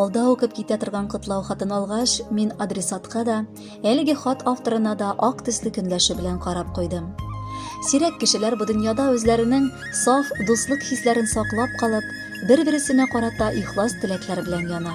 Алда укып китә торган котлау хатын алгач, мин адресатка да, әлеге хат авторына да ак төсле көнләше белән карап куйдым. Сирәк кешеләр бу дөньяда үзләренең саф дуслык хисләрен саклап калып, бер-бересенә карата ихлас теләкләр белән яна.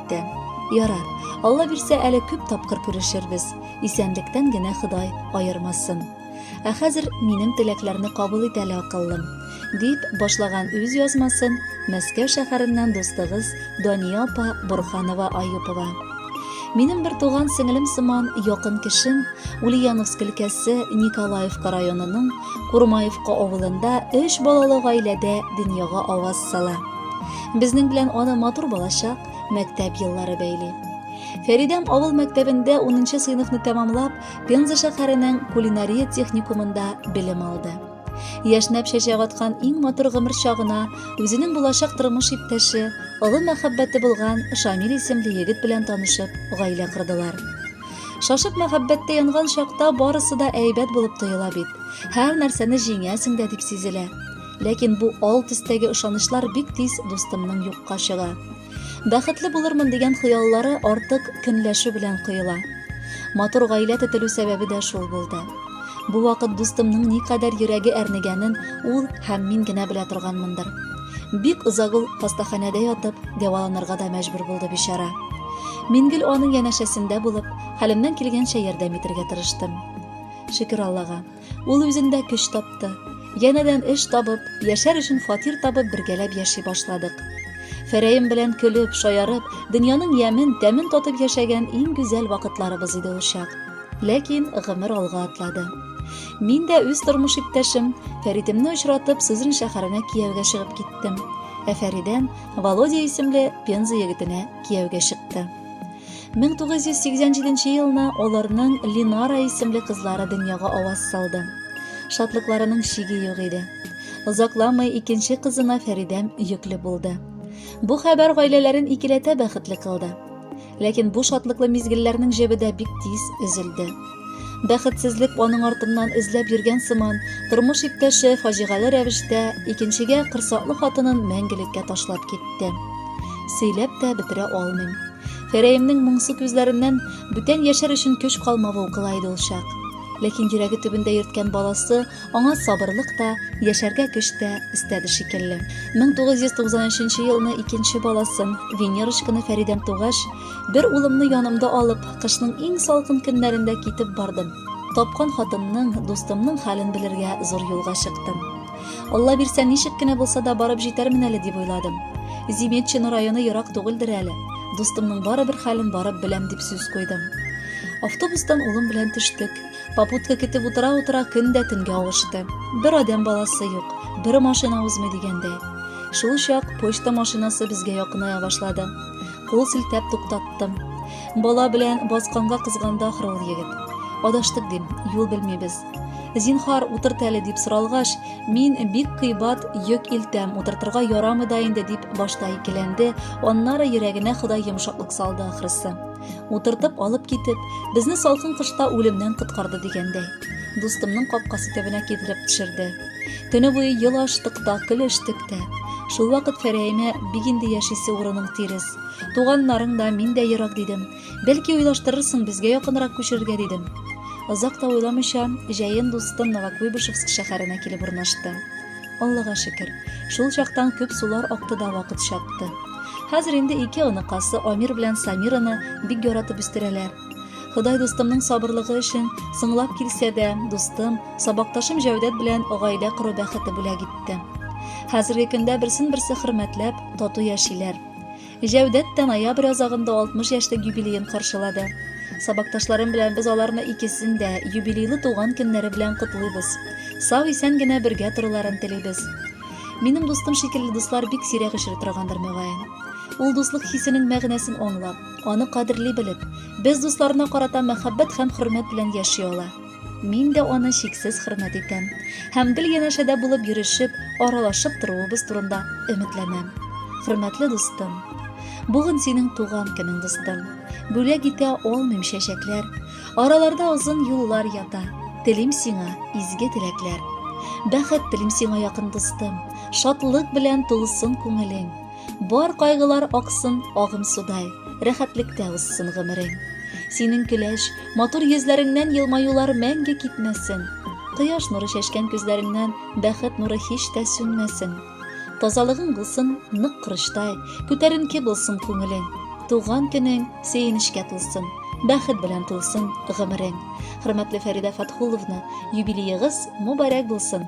китте. Ярар, Алла бирсә, әле күп тапкыр күрешербез. Исәнлектән генә Ходай аермасын. Ә хәзер минем теләкләрне кабул ит әле, акыллым, дип башлаган үз язмасын Мәскәү шәһәреннән дустыгыз Дания апа Бурханова Аюпова. Минем бер туган сеңлем сыман якын кешем Ульяновск өлкәсе Николаевка районының Курмаевка авылында өч балалы гаиләдә дөньяга аваз сала. Безнең белән аны матур балачак, мәктәп еллары бәйли. Фәридәм авыл мәктәбендә 10 сыйныфны тәмамлап, Пенза шәһәренең кулинария техникумында белем алды. Яшьнәп чәчәк аткан иң матур гомер чагына үзенең булачак тормыш иптәше, олы мәхәббәте булган Шамил исемле егет белән танышып, гаилә кырдылар. Шашып мәхәббәттә янган чакта барысы да әйбәт булып тоела бит. Һәр нәрсәне җиңәсең дә дип сизелә. Ләкин бу ал төстәге ышанычлар бик тиз дустымның юкка чыга. Бәхетле булырмын дигән хыяллары артык көнләшү белән коела. Матур гаилә төтелү сәбәбе дә шул булды. Бу вакыт дустымның никадәр йөрәге әрнегәнен ул һәм мин генә белә торганмындыр. Бик озак ул хастаханәдә ятып, дәваланырга да мәҗбүр булды бичара. Мин гел аның янәшәсендә булып, хәлемнән килгәнчә ярдәм итергә тырыштым. Шөкер Аллага, Ул үзендә көч тапты. Янәдән эш табып, яшәр өчен фатир табып бергәләп яши башладык. Фәрәем белән көлеп, шаярып, дөньяның ямен, тәмен татып яшәгән иң гүзәл вакытларыбыз иде ул чак. Ләкин гомер алга атлады. Мин дә үз тормыш иптәшем Фәритемне очратып, Сызрань шәһәренә кияүгә чыгып киттем. Ә Фәридән Володя исемле Пенза егетенә кияүгә чыкты. 1987 елны аларның Линара исемле кызлары дөньяга аваз салды. Шатлыкларының чиге юк иде. Озакламый икенче кызына Фәридәм йөкле булды. Бу хәбәр гаиләләрен икеләтә бәхетле кылды. Ләкин бу шатлыклы мизгелләрнең җебе дә бик тиз өзелде. Бәхетсезлек аның артыннан эзләп йөргән сыман, тормыш иптәше фаҗигале рәвештә икенчегә кырсаклы хатынын мәңгелеккә ташлап китте. Сөйләп тә бетерә алмыйм. Фәрәемнең моңсу күзләреннән бүтән яшәр өчен көч калмавы укыла иде ул чак. Ләкин йөрәге төбендә йөрткән баласы аңа сабырлык та, яшәргә көч тә өстәде шикелле. 1993 елны икенче баласын, Венерочканы Фәридәм тугач, Бер улымны янымда алып, кышның иң салкын көннәрендә китеп бардым. Тапкан хатынның, дустымның хәлен белергә зур юлга чыктым. Алла бирсә, ничек кенә булса да барып җитәрмен әле дип уйладым. Зиметчина районы ерак түгелдер әле. Дустымның барыбер хәлен барып беләм дип сүз куйдым. Автобустан улым белән төштек. Попутка көтеп утыра-утыра көн дә төнгә авышты. Бер адәм баласы юк, бер машина узмый дигәндәй. Шул чак почта машинасы безгә якыная башлады. Кул селтәп туктаттым. Бала белән басканга кызганды ахры ул егет. Адаштык дим, юл белмибез. Зинхар, утырт әле дип соралгач, мин бик кыйбат йөк илтәм, утыртырга ярамый да инде дип башта икеләнде, аннары йөрәгенә Ходай йомшаклык салды ахрысы. Утыртып алып китеп, безне салкын кышта үлемнән коткарды дигәндәй. Дустымның капкасы төбенә китереп төшерде. Көне буе ел аштык та, көлештек тә. Шул вакыт Фәрәемә бик инде яшисе урының тирес. Туганнарың да, мин дә ерак дидем. Бәлки уйлаштырырсың, безгә якынрак күчерергә дидем. Озак та уйламыйча, җәен дустым Новокуйбышевск шәһәренә килеп урнашты. Аллага шөкер, шул чактан күп сулар акты да вакыт чапты. Хәзер инде ике оныкасы Амир белән Самираны бик яратып үстерәләр. Ходай дустымның сабырлыгы өчен соңлап килсә дә, дустым, сабакташым Җәүдәт белән гаилә кору бәхете бүләк итте. Хәзерге көндә берсен-берсе хөрмәтләп, тату яшиләр. Җәүдәт тә ноябрь азагында 60 яшьлек юбилеен каршылады. Сабакташларым белән без аларны икесен дә юбилейлы туган көннәре белән котлыйбыз. Сау исән генә бергә торуларын телибез. Минем дустым шикелле дуслар бик сирәк очрый торгандыр мөгаен. Ул дуслык хисенең мәгънәсен аңлап, Аны кадерли белеп, без дусларына карата мәхәббәт һәм хөрмәт белән яши ала. Мин дә аны чиксез хөрмәт итәм һәм гел янәшәдә булып йөрешеп, аралашып торуыбыз турында өметләнәм. Хөрмәтле дустым, бүген синең туган көнең, дустым. Бүләк итә алмыйм чәчәкләр. Араларда озын юллар ята. Телим сиңа изге теләкләр. Бәхет телим сиңа якын дустым. Шатлык белән тулсын күңелең. Бар кайгылар аксын агым судай, рәхәтлектә узсын гомерең. Синең көләч, матур йөзләреңнән елмаюлар мәңге китмәсен. Кояш нуры чәчкән күзләреңнән бәхет нуры һич тә сүнмәсен. Тазалыгың булсын нык корычтай, күтәренке булсын күңелең. Туган көнең сөенечкә тулсын, бәхет белән тулсын гомерең. Хөрмәтле Фәридә Фатхуловна, юбилеегыз мубарәк булсын!